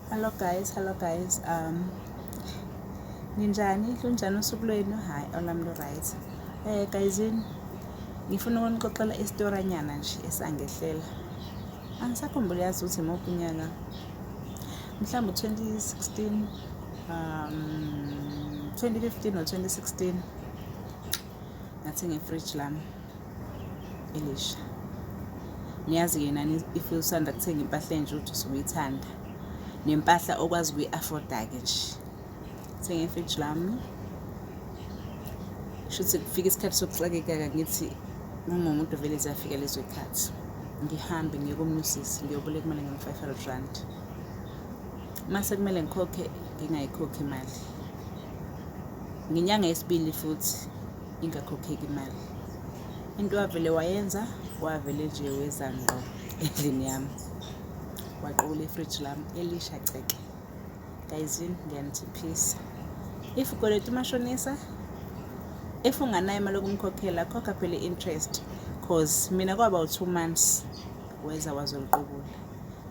Hello guys, hello guys. Um ninjani? Lunjani usuku lwenu? Hayi, olami lu right. Eh guys, ngifuna ukunixoxela isitoranyana nje esangehlela. Angisakhumbuli yazi ukuthi imuphi unyaka. Mhlawumbe 2016 um 2015 or 2016 ngathi ngefridge lami elisha ngiyazi yena if usanda kuthenga impahla enje ukuthi usuyithanda nempahla okwazi kuyi-afforda-ke nje thenge ifridge lami shuthi kufika isikhathi sokuxakekaka ngithi ngingumuntu vele ziyafika lezo ikhathi ngihambe ngiye komunye usisi ngiyobule kumele ngim-five hundred rand uma sekumele ngikhokhe ngingayikhokhi imali ngenyanga yesibili futhi ingakhokheki imali. Into wavele wayenza wavele nje weza ngqo endlini yami waqola ifridge lami elisha ceke gayizini ngiyanithiphisa if ukweleta umashonisa if unganayo imali yokumkhokhela khokha phela i-interest cause mina kwaba u-two months weza wazoliqubula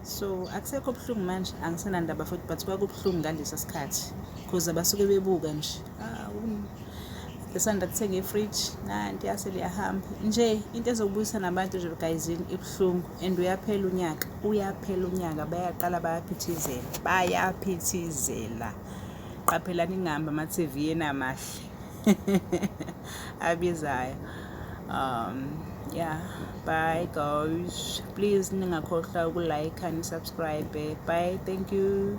so akusekho buhlungu manje angisenandaba futhi but kwakubuhlungu ngalesa sikhathi cause abasuke bebuka nje lisanda kuthenga ifridge nanti yase liyahamba nje into ezokubuyisa nabantu nje gayizini ibuhlungu and uyaphela unyaka uyaphela unyaka bayaqala bayaphithizela bayaphithizela qaphelani ingahambi ama-tv yena amahle abizayo um yeah bye guys please ningakhohlwa ukulike nisubscribe bye thank you